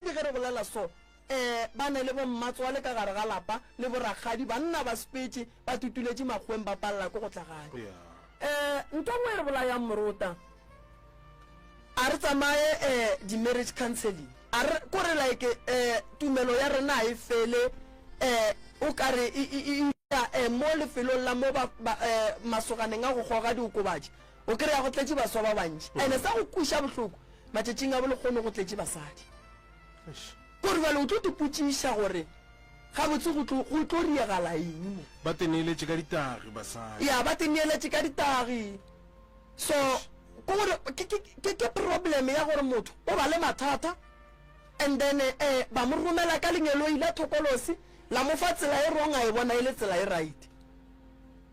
Le ge re bolela so, ee, ba ne le bommatswale ka gare ga lapa le borakgadi, banna ba spetše, ba tutuletše makgoweng ba palela ko go tla gae. Ee, ntho e nngwe e re bolayang morota, a re tsamaye ee, di-marriage counselling, a re, ko re like ee, tumelo ya rena ga e fele ee, o ka re e, e, e, e, ee, mo lefelong la mo ba, ba, ee, masoganeng a go goga diokobatši, O kry-a go tletše baswa ba bantši ene sa go kweša bohloko matšatšing a bolekgono go tletše basadi. Kore bjale o tlo tipotšiša gore gabotse go tlo riegala eng mo. Ba teneeletše ka ditagi basadi. Ya ba teneeletše ka ditagi so ke gore ke problem ya gore motho o ba le mathata and then eh, ba mo romela ka lengeloi la thokolosi la mo fa tsela e wrong a e bona e le tsela e right.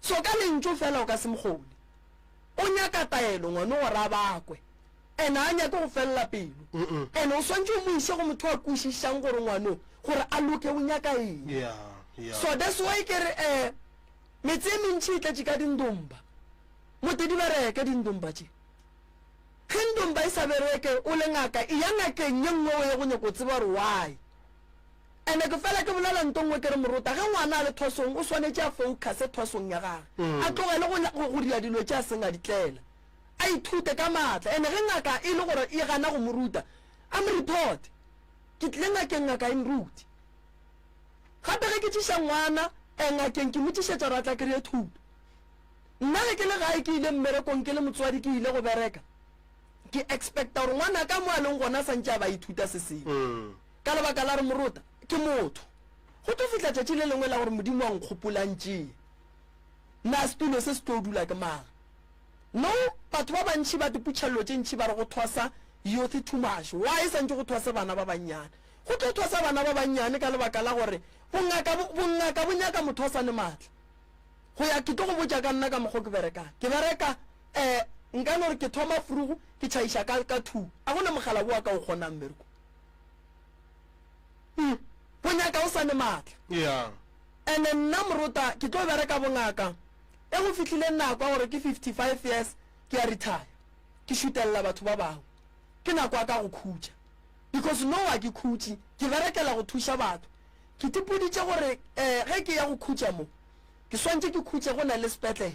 So ka lentšu fela o ka se mkgone. O nyaka taelo ngwano gore a bakwe. And a nyake go felela pelo. And o swantše o mo iše go motho a kwešišang gore ngwano gore a loke o nyaka eng. Yeah, yeah. So that's why ke re eh metse e mentši e tletše ka dindomba. Mote di bereke dindomba tše. Ge ndomba e sa bereke o le ngaka e ya ngakeng ye nngwe o ye go nyaka go tseba gore why. Ene ke fela ke bolela nto nngwe ke re morota ge ngwana a le thosong o swanetše a focuse thosong ya gage, a tlogele go, go, go dira dilo tše a seng a di tlela. A ithute ka maatla. Ene ge ngaka e le gore e gana go mo ruta, a mo reporte. Ke tlile ngakeng, ngaka e nrute. Gape ge ke tšiša ngwana eh, ngakeng ke mo tšišetša gore a tla kry-e thuto. Nna ge ke le gae ke ile mmerekong ke le motswadi ke ile go bereka, ke expecta gore ngwanaka mo a leng gona a sa ntše a ba a ithuta se sengwe. Ka lebaka la gore morota ke motho, go tlo fihla tšatši le lengwe la gore Modimo a nkgopolantšee. Na setulo se se tlo dula ke mang? No, batho ba bantši ba diputšha llo tše ntši ba re go thwasa youth too much. Why e santše go thwase bana ba bannyane? Go tlo thwasa bana ba bannyane ka lebaka la gore bongaka, bongaka bo nyaka motho a sa ne matla. Go ya, ke tlo go botša ka nna ka mokgwa o ke berekang. Ke bereka, eh, nka no re ke thoma frugu, ke tšhaiša ka, ka two. A go na mogala wo wa ka o kgonang mmerekong. Hm, go nyaka o sa ne matla. Yeah. Ene nna Morota ke tlo bereka bongaka, ge go fihlile nako ya gore ke 55 years ke ya retire, ke šutelela batho ba bangwe. Ke nako ya ka go khutša. Because now ga ke khutše, ke berekela go thuša batho. Ke tipoditše gore eh ge ke ya go khutša mo, ke swantše ke khutše go na le sepetlele.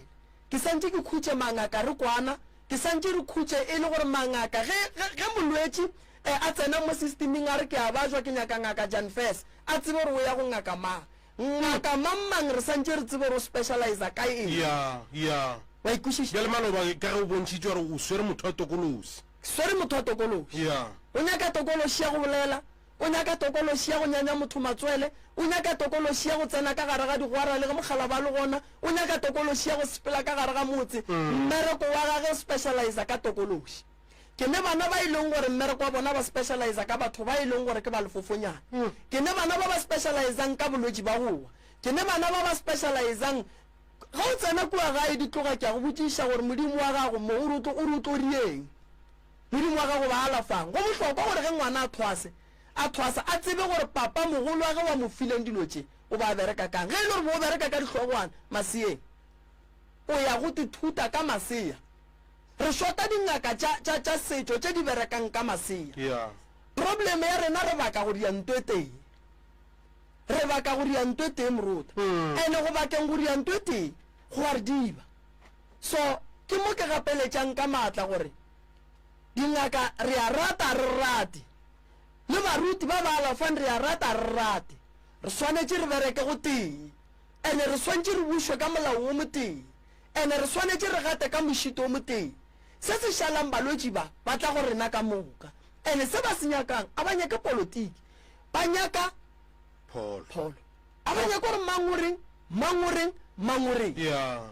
Ke santše ke khutše mangaka re kwana, ke santše re khutše e le gore mangaka ge, ge, ge molwetši E, a tsena mo sistiming a re ke a bajwa, ke nyaka Ngaka Jan Fess. A tsebe gore o ya go ngaka mang. Ngaka mang-mang re santše re tsebe gore o specializa ka eng. Ya, ya. Wa ikwešiša? Bjale maloba ka ge o bontšhitše gore o swere motho wa tokološi. Ke swere motho wa tokološi. Ya. O nyaka tokološi ya go bolela, o nyaka tokološi ya go nyanya motho matswele, o nyaka tokološi ya go tsena ka gare ga digwara le ge mokgalaba a le gona, o nyaka tokološi ya go sepela ka gare ga motse. Mmereko wa gage o specializa ka tokološi. Ke ne bana ba e leng gore mmereko wa bona ba specializa ka batho ba e leng gore ke ba lefofonyana. Ke ne bana ba ba specializang ka bolwetši ba go wa. Ke ne bana ba ba specializang Ge o tsena kua gae di tloga ke a go botšiša gore Modimo wa gago mo o re o tlo rieng. Modimo wa gago ba alafang. Go bohlokwa gore ge ngwana a thwase a thwasa a tsebe gore papa mogolo wa ge wa mo fileng dilo tše o ba bereka kang. Ge e le gore bo o bereka ka dihlogwana maseyeng o ya go tithuta ka masea. Re shota dingaka tša, tša, tša setšo tše di berekang ka masea. Yeah. Problem ya rena re baka go dia nto e tee. Re baka go dia nto e tee moruta. And go bakeng go dia nto e tee go a re diba. So ke mo ke gapeletšang ka maatla gore dingaka re a rata ga re rate, le baruti ba ba alafang re a rata ga re rate, re swanetše re bereke go tee. And re swantše re bušwe ka molao wo motee. and re swanetše re gate ka mošito o motee. Se se šalang balwetši ba ba tla go rena ka moka and se ba se nyakang a ba nyake polotiki, ba nyaka pholo. A ba nyake gore mang o reng, mang o reng, mang o reng.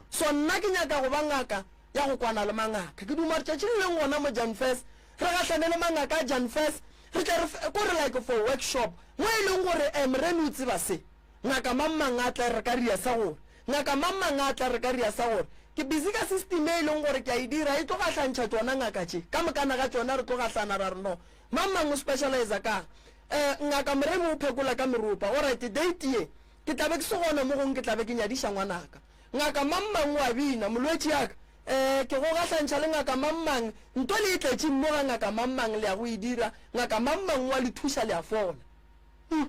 So nna ke nyaka go ba ngaka ya go kwana le mangaka. Ke duma gore tšatši le leng gona mo Janfes re gahlane le mangaka a Janfes re tle re ko re like for workshop mo e leng gore eh Morena o tseba se ngaka mang mang a tle re ka reasa gore Ngaka mang mang a tla re ka ria sa gore, Ke busy ka system e e leng gore ke a e dira, e tlo gahlantšha tšona ngaka tše. Ka mokana ga tšona re tlo gahlana ra re, No. Mang mang o specializer ka'ng? Eh, Ngaka Moremi o phekola ka meropa. Orayte, date ye, ke tla be ke se gona mo gongwe ke tla be ke nyadiša ngwanaka. Ngaka mang mang o a bina, Molwetši ya ka, eh, ke go gahlantšha le ngaka mang mang, nto le e tletšeng mo ga ngaka mang mang le ya go e dira, ngaka mang mang o a le thuša le a fola. Hmm.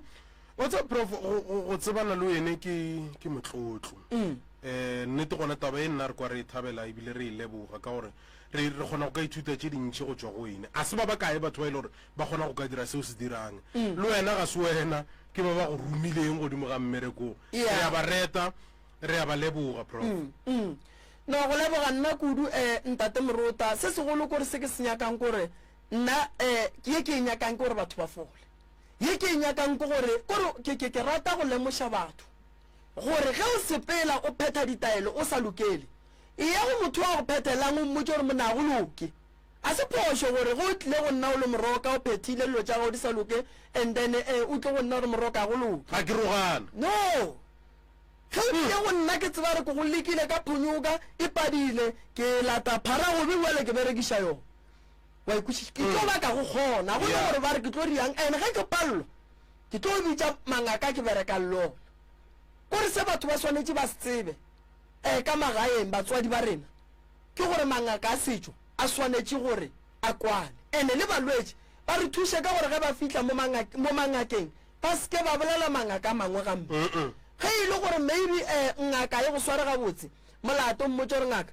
wa tsa prof go- go go tsebana le wene ke ke motlotlo um nnete gona taba e nna re kwa re e thabela ebile re e leboga ka gore re re kgona go ka ithuta tše dintšhi go tšwa go wene a se ba ba kae batho ba e le gore ba kgona go ka dira seo se dirang le wena ga se wena ke ba ba go romileng godimo ga mmereko Yeah. re a ba reta re a ba leboga prof Mm. no go leboga nna kudu um ntate morota se segolo kore se ke se nyakang kore nna um ke ye ke e nyakang ke gore batho ba fole Ye ke e nyakang ke gore, ke gore ke, ke, ke rata go lemoša batho gore ge o sepela o phetha ditaelo o sa lokele, eya go motho wa go phethelang o mmotše gore monna ga go loke. A se phošo gore ge o tlile go nna o le moroka o phethile dilo tša gago di sa loke and then e, o tle go nna o re moroka ga go loke. Ga ke rogane. No! Ge o tlile go nna ke tseba gore ke go lekile ka phonyoka e padile, ke lata phara gobe bjale ke berekiša yona. wa ikwešiša ke tlo baka go kgona go le gore ba re ke tlo riang ene ge ke pallo ke tlo bitša mangaka ke bereka lona kore se batho ba swanetše ba se tsebe um ka magaeng batswadi ba rena ke gore mangaka a setšo a swanetše gore a kwane ene le balwetši ba re thuše ka gore ge ba fitlha mo mangakeng ba seke ba bolela mangaka a mangwe gampe ge e le gore maybe um ngaka e go sware gabotse molato mmotse gore ngaka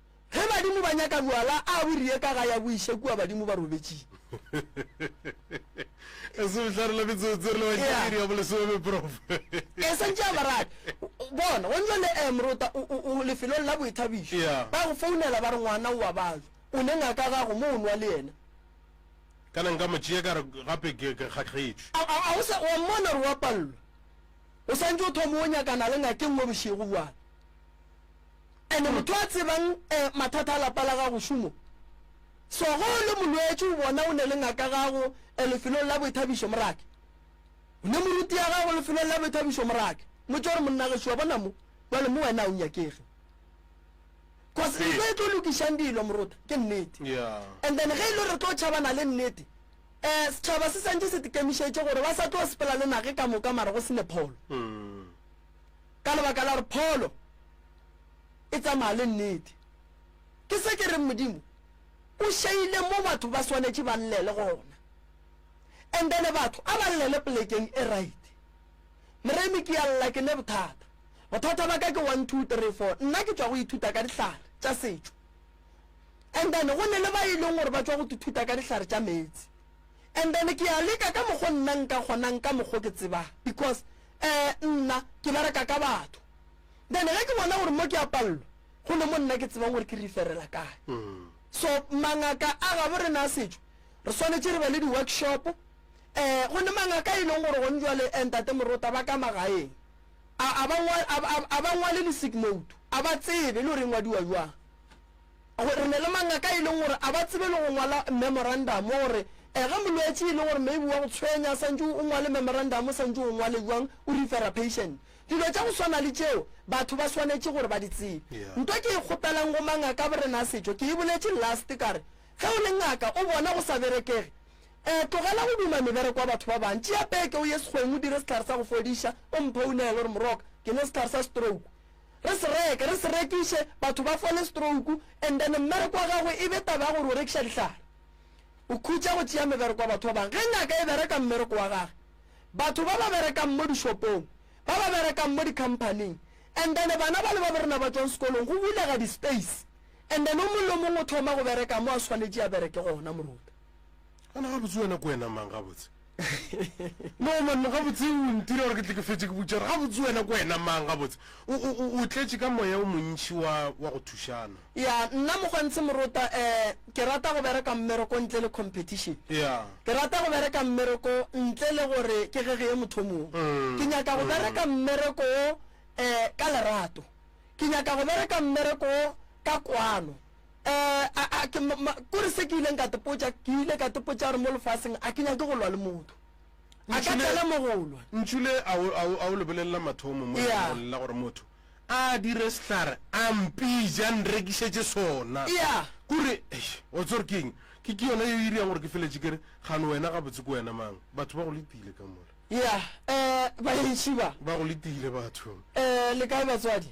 Ge badimo ba nyaka bwala a bo riye ka ga ya bo iše kua badimo ba robetšing. E se bohlare la metsotso re le ba iri ya bolesome prof. E santše a barate bona go ntšwa le eh morota o lefelong la boithabišo ba go founela ba re ngwana o a balwa o ne ngaka gago mo o nwa le yena kana nka mo tšea ka re gape ke kgakgetšwe. A a o sa wa mmona re wa pallwa o santše o thoma o nyakana le ngakeng mo bošego bwana And motho a tsebang eh, mathata a lapa la gago šomo So ge o le molwetši o bona o ne le ngaka gago eh, lefelong la boithabišo morake O ne moruti ya gago lefelong la boithabišo morake Motse gore monna gešo wa bona mo Bjale mo wena o nyakege Cause Ee. ntho e tlo lokišang dilo morota ke nnete Yeah. And then ge e le re tlo tšhabana le nnete eh, setšhaba se santše se tekemišetše gore ba sa tlo sepela le nage ka moka mara go se ne pholo Mm. ka lebaka la gore pholo e tsamaya le nnete. Ke se ke reng Modimo o šeile mo batho ba swanetše ba llele gona. And then batho a ba llele polekeng e right. Moremi ke ya lla ke ne bothata. Bothata ba ka ke one two three four. Nna ke tšwa go ithuta ka dihlare tša setšo. And then go ne le ba e leng gore ba tšwa go ithuta ka dihlare tša meetse. And then ke ya leka ka mokgo nna nka kgonang ka mokgo ke tsebang because eh, nna ke bereka ka batho then ge ke bona gore mo ke a palelwa go le mo nna ke tsebang gore ke referela kae mm. so mangaka a gabo re na setšo re swanetse re be le di-workshop um eh, go ne mangaka e leng gore gone jwale eh, ntate morota ba ka magaeng a ba ngwale le sick note a ba tsebe le gore e ngwadiwa jwang Gore ne le mangaka e leng gore a ba tsebe le go ngwala memorandamo gore ge molwetši e le gore maybe wa go tshwenya santše o ngwale memorandamo santše o ngwale jwang o refera patient dilo tša go swana le tšeo batho ba swanetše gore ba di tsebe nto ke e kgopelang go mangaka borena a setšo ke e boletše last ka re ge o le ngaka o bona go sa berekege um tlogela go duma mebereko wa batho ba bang tšea peke o ye sekgweng o dire sehlare sa go fodiša o mphounele gore moroka ke ne sehlare sa stroke re se reke re se rekiše batho ba fole stroke and then mmereko wa gagwe e be taba ya gore o rekiša dihlare o khutša go tšea mebereko wa batho ba bangwe ge ngaka e bereka mmereko wa gage batho ba ba berekang mo dishopong ba ba berekang mo di-companyng and then bana ba le ba borena ba tswang sekolong go bulega di-space and then o mongwe le mongwe o thoma go bereka mo a swanetše a bereke gona moruta Ana gabotse wena ke wena mang gabotse? No man gabotse o ntira gore ke tle ke fetse ke butšara gabotse wena ke wena mang gabotse? O o o o tletše ka moya o montši wa wa go thušana. Ya nna Mogwantshe Morota eh ke rata go bereka mmereko ntle le competition. Ya. Ke rata go bereka mmereko ntle le gore ke gegeye motho o mongwe. Mm, Ke nyaka go mm. bereka mmereko wo eh ka lerato. Ke nyaka go bereka mmereko wo ka kwano. a ke kore se ke ileng ka tepotša ke ile ka tepotša gore mo lefaseng a ke nyake go lwa le motho a ka tsela mo go lwa ntšhule a o lebelelela mathomo mo go lela gore motho a dire sehlare a mpija nrekišetše sona kore wa tsore ke eng ke ke yona yo iriang gore ke feletše kere gano wena ga botse ko wena mang batho ba go letile ka mola ya um baetši ba ba go letile batho um le kae batswadi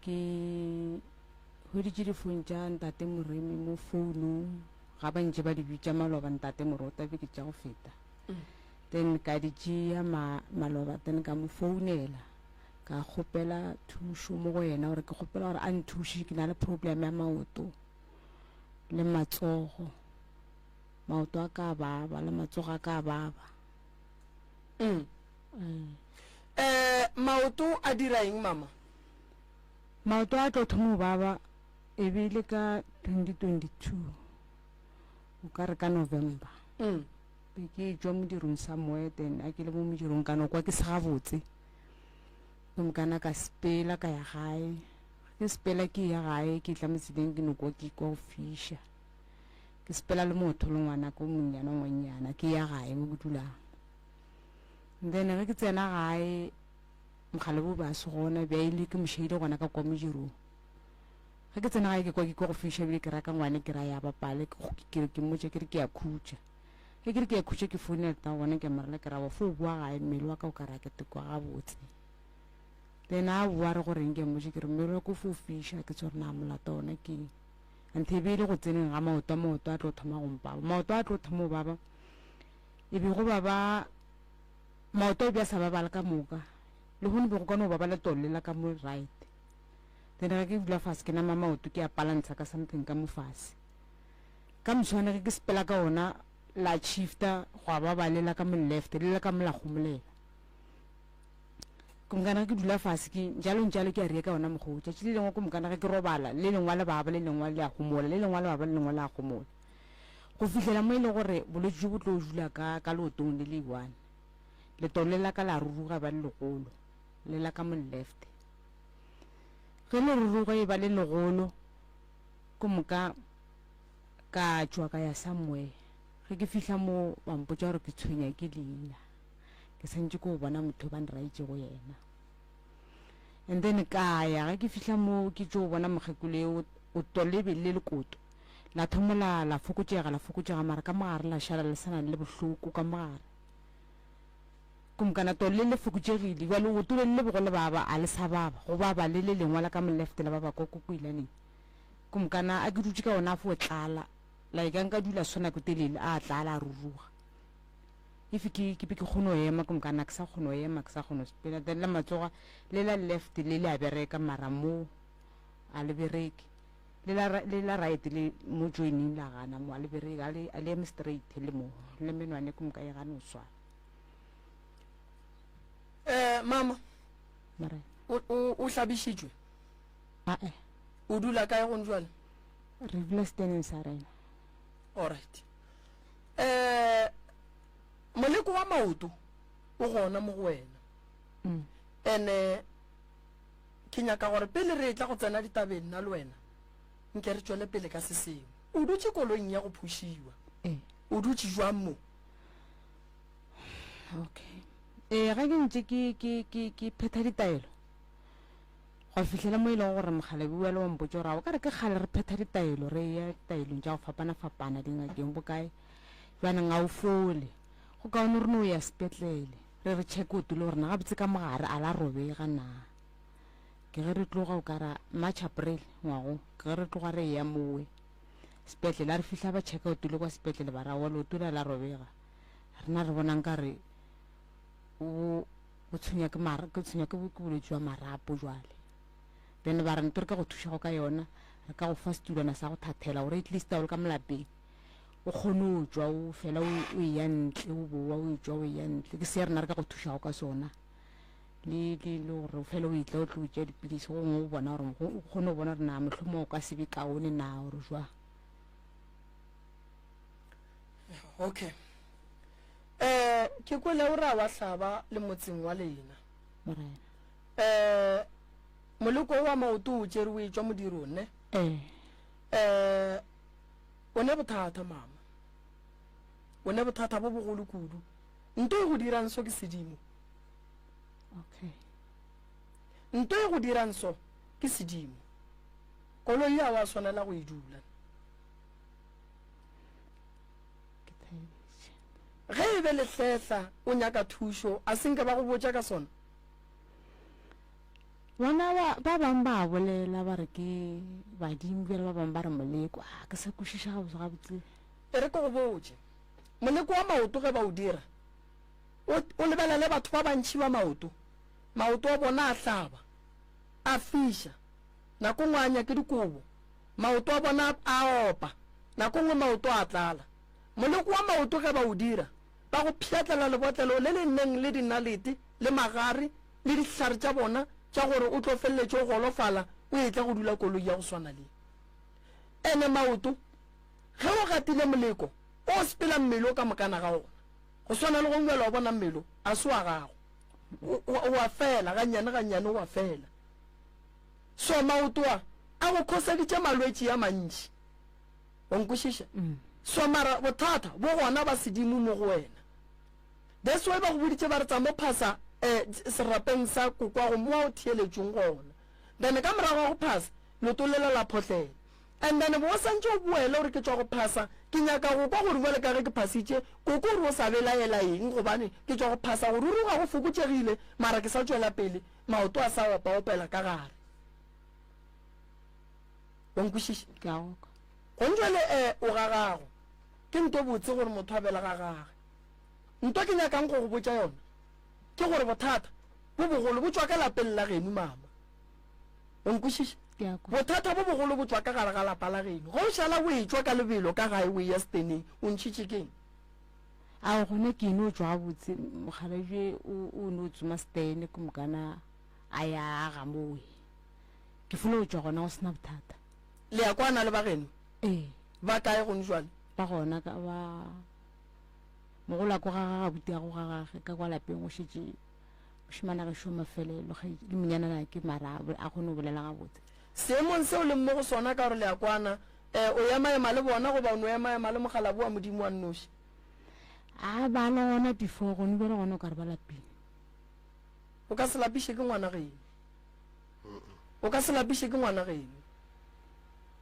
Ke hweditše difone tša ntate Moremi mo founong, ga ba ntše ba di bitša maloba ntate Morota be ke tša go feta. Then ka di tšea ma, maloba then ka mo founela ka kgopela thušo mo go yena gore ke kgopela gore a nthuše ke na le problem ya maoto le matsogo. Maoto a ka baba le matsogo a ka baba. Eh, maoto a dira eng mama? Maoto a tlo thoma go baba e be e le ka 2022 o ka re ka November mm. be ke jwa modirong sa moya then a ke le mo modirong kana kwa ke se gabotse gomme kana ka sepela ka ya gae ke sepela ke ya gae ke tla motseleng ke nokwa ke kwa go fisha ke sepela le motho le ngwana ko monnyana ngwannyana ke ya gae mo ke dulang then ge ke tsena gae mokgalebo ba se gona bja ile ke mošaile gona ka kwa modirong ga ke tsena gae ke kwa ke kwa go fiša bile ke raka ngwane ke ra ya bapale ke kere ke mmotša ke re ke ya khutša ge ke re ke ya khutša ke foune reta gona ke morela ke raba fo o boa gae mmele wa ka o ka rake tekwa gabotse then a boa re goreng ke mmotša ke re mmele wa ko fo o fiša ke tshwere na molato ona ke anthe e be e le go tseneng ga maoto a maoto a tlo thoma gompaba maoto a tlo thoma o baba e be go baba Maoto a be a sa babala ka moka, lehono be go ka no ba ba le tolle la ka mo right. Then ge ke dula fase ke nama maoto ke a palantsha ka something ka mo fase. Ka moswane ge ke sepela ka ona la shifta go a baba le la ka mo left le la ka mo la gomolela. Ke mokana ge ke dula fase ke jalo njalo ke a riya ka ona mokgwa o. Tšatši le lengwe ke mokana ge ke robala le lengwa le baba le lengwa le a gomola le lengwa le baba le lengwa le a gomola. go fihlela mo e le gore bolwetši jo bo tlo dula ka ka leotong le le one letolo le la ka la ruruga ba le legolo le la ka mo left ge le ruruga e ba le legolo ko moka ka tšwa ka ya somewhere ge ke fihla mo ba mpotsa gore ke tshwenya ke leina ke santse ko bona motho ba nraitse go yena and then ka ya ge ke fihla mo ke tšo bona mokgekolo o tolebe le lekoto La thomola la fokotšega, la fokotšega, mara ka mogare la šala le sana le bohloko ka mogare. Kumkana tole le fokotšegile, jwa leoto le le bogole baba, a le sa baba, go baba le le lengwa la ka molefte la baba kwa kokoilaneng. Kumkana a ke dutše ka ona a fo tlala, la e ka nka dula swana ko telele, a tlala a ruruga. Ife ke, ke be ke kgono ema, kumkana ke sa kgono ema, ke sa kgono spela, then la matsoga le la lefte le le a bereka, mara mo a le bereke. Le la, le la right le mo joining la gana mo ale bereke ale ale eme straight le mo le menwane ku moka e gane o swa. Eh mama. Mare. O o o hlabišitšwe. A eh. O dula kae gone jwale? Re dula steneng sa rena. All right. Eh moleko wa maoto o gona mo go wena. Mm. Ene Ke nyaka gore pele re etla go tsena ditabeng nna le wena, nke re tšwele pele ka se sengwe. O dutše koloing ya go phušiwa. Ee. O dutše jwang mo? Okay. Ee, ge ke ntše ke, ke, ke, ke phetha ditaelo, gwa fihlela mo e lego gore Mokgalabi o ya le wa mpotša gore a o ka re ke kgale re phetha ditaelo, re eya ditaelong tša go fapana-fapana, dingakeng, bokae. Bjanong a o fole. Go kaone re no ya sepetlele. re re check o tule gore na gabotse ka mogare a la robega na ke ge re tloga o kara march april ngwago ke ge re tloga re ya mowe sepetlele a re fihla ba checka o tule kwa sepetlele ba ra walo o tule la robega rena re bonang ka re o o tshwenya ke mara ke tshwenya ke ke bolwetse jwa marapo jwale then ba re nto re ka go thuša go ka yona re ka go fa setulwana sa go thathela gore at least a o le ka molapeng o kgone o tšwa o fela o eya ntle o bowa o tšwa o eya ntle ke se ya rena re ka go thušago ka sona le le le gore o fela o itla o tlo tšea dipilisi gongwe o bona gore o kgone go bona gore na mohlomong o ka se be kaone na gore jwang okay um ke kwele o ra wa hlaba le motseng wa lena um eh, moleko wa maoto o tšere o e tšwa modirong ne um O ne bothata, mama. O ne bothata bo bogolo kudu. Nto e go dirang so ke sedimo. Okay. Nto e go dirang so ke sedimo. Koloi ya wa swanela go e dula. ge e be lehletla o nyaka thušo a se nke ba go botša ka sona Bona ba, ba bang ba a bolela, ba re ke badimo, bjale ba bang ba re moleko. A ke sa kwešiša gabotse gabotse. E re ke go botše, moleko wa maoto ge ba o dira, o, o lebelele batho ba bantši ba maoto, maoto a bona a hlaba, a fiša, nako nngwe a anya ke dikobo, maoto a bona a, a opa, nako nngwe maoto a tlala. Moleko wa maoto ge ba o dira, ba go pšhatlela lebotlelo le le neng le dinalete le magare le dihlare tša bona tša gore o tlo feleletše o golofala o etla go dula koloi ya go swana le ene maoto ge o gatile moleko o sepela mmele o ka mokana ga ona go swana le go ngwela wa bona mmele a se wa gago o a fela gannyane gannyane o a fela so maoto a a go khoseditše malwetši a mantši wa nkwešiša mm. so mara bothata bo gona ba sedimo mo go wena that's why ba go boditše ba re tsa mo phasa um serapeng sa kokwago mo wa o theeletšong gona then ka morago wa go phasa leto lela la photlela and then bo o santse o boele gore ke tswa go phasa ke nyaka go kwa gore bjale ka ge ke phasitše koko gore o sa belaela eng gobane ke tswa go phasa gore ruri ga go fokotšegile mara ke sa tswela pele maoto a sa opa opela ka gare Wa nkwešiša? Ke a go kwa. Gong jwale, e, o ga gago. Ke nto botse gore motho a bele ga gage. Nto ke nyakang go go botša yona ke gore bothata bo bogolo bo tšwa ka lapeng la genu, mama. O nkwešiša? Ke a kwa. Bothata bo bogolo bo tšwa ka gare ga lapa la genu. Ge o šala o e-tšwa ka lebelo ka gae o e-ya seteneng, o ntšhitše ke eng? Ao, gona ke no tšwa gabotse, mokgalabje o, o no tsoma setene, ke mokana a ya a ga mowe. Ke fula go tšwa gona go sena bothata. Le ya kwana le ba geno? Ee. Ba kae gone jwale? Ba gona ka ba mogola ko ga ga gabuti ya go ga gage ka kwa lapeng go šetše mošimana ge šoma fele le le monyana na ke mara a kgone go bolela gabotse. Seemong seo le mmo go sona ka gore le ya kwana eh o ya maema le bona go ba o no ya maema le mogalabu wa modimo wa nnoši? A ba le gona before gone bjale gona o ka re ba lapile. O ka se lapiše ke ngwana geno. O ka se lapiše ke ngwana geno.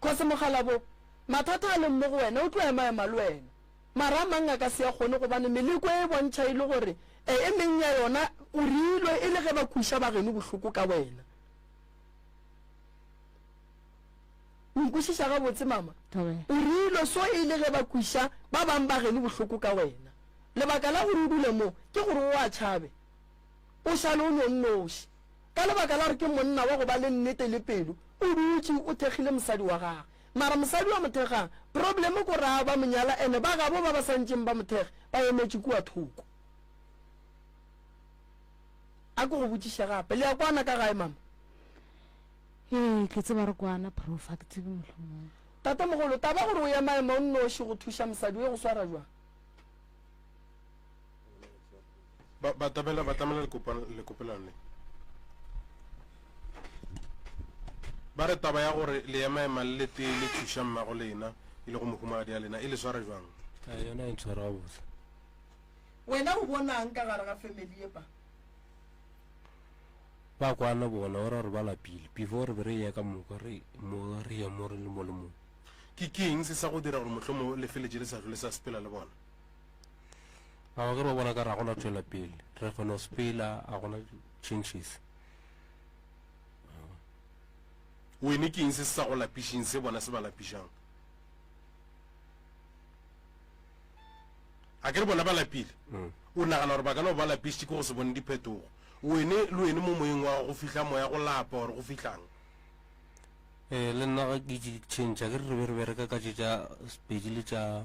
Kgosi Mokgalabo, mathata a leng mo go wena o tlo emaema le wena. Mara a mang a ka se a kgone gobane meleko e e bontšha e le gore e e meng ya yona o reilwe e le ge ba kweša ba geno bohloko ka wena. O nkwešiša gabotse mama? O reilwe so e le ge ba kweša ba bang ba geno bohloko ka wena. Lebaka la gore o dule mo ke gore o a tšhabe. O šale o nonnoši. Ka lebaka la gore ke monna wa go ba le nnete le pelo, o dutše o thekgile mosadi wa gagwe. Mara mosadi wa mo thekgang, problem ko ra ba mo nyala ene ba gabo ba ba sa ntšeng ba mo thekge ba emetše kua thoko. A ke go botšiše gape, le ya kwana ka gae mama? Ee, ke tseba re kwana prof, ga ke tsebe mohlomong. Tatemogolo, taba gore o emaema o nnoši go thuša mosadi o e go swara jwang? Ba, batamela batamela lekopelano le ba re taba ya gore le ema ema le lete le thuša mmago lena e le go mohumagadi ya lena e le swara jwang a eh, yona e ntshwara gabotse wena o bonang ka gare ga family ye pa ba kwana bona o ra gore ba lapile before re be re ye ka moka re mo re ye mo re le mo le mo ke keng se sa go dira gore motlho mo lefeletse le sa tlhole sa sepela le bona Mara ke re ba bona ka ra gona tšwela pele. Re kgona go spela a gona changes. Wene ke eng se se sa go lapišeng se bona se ba lapišang? A ke re bona ba lapile? Mm. O nagana gore ba ka no ba lapišitše ke go se bone diphetogo. Wene le wene mo moyeng wa go fihla moya go lapa gore go fihlang. Eh le nna ga ke itše change a ke re re be re bereka ka tše tša Sepedi le tša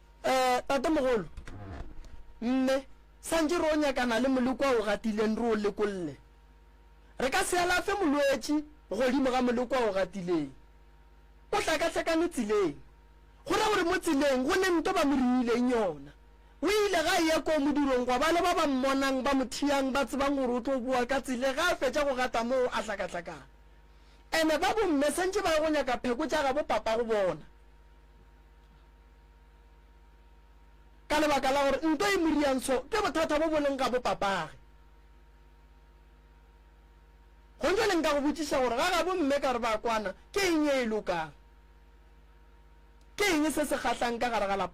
Eh, tatemogolo, mme, santše re o nyakana le molekwa o gatileng re o lekolle. Re ka se alafe molwetši godimo ga molekwa o gatileng. O hlakahlakane tseleng. Go ra gore mo tseleng go ne nto ba mo riileng yona. O ile ga eya koo modirong gwa ba le ba ba mmonang ba mo thiyang ba tsebang gore o tlo boa ka tsele ga a fetša go gata moo a hlakahlakana. Ene ba bomme santše ba ye go nyaka pheko tša gabo papa go bona. Ka lebaka la gore nto e moriantsho ke bothata bo bo leng ga bopapage. Gonjale nka go botšiša gore ga gabo mme ka re ba kwana ke eng e e lokang? Ke eng se se kgahlang ka gare ga lapa?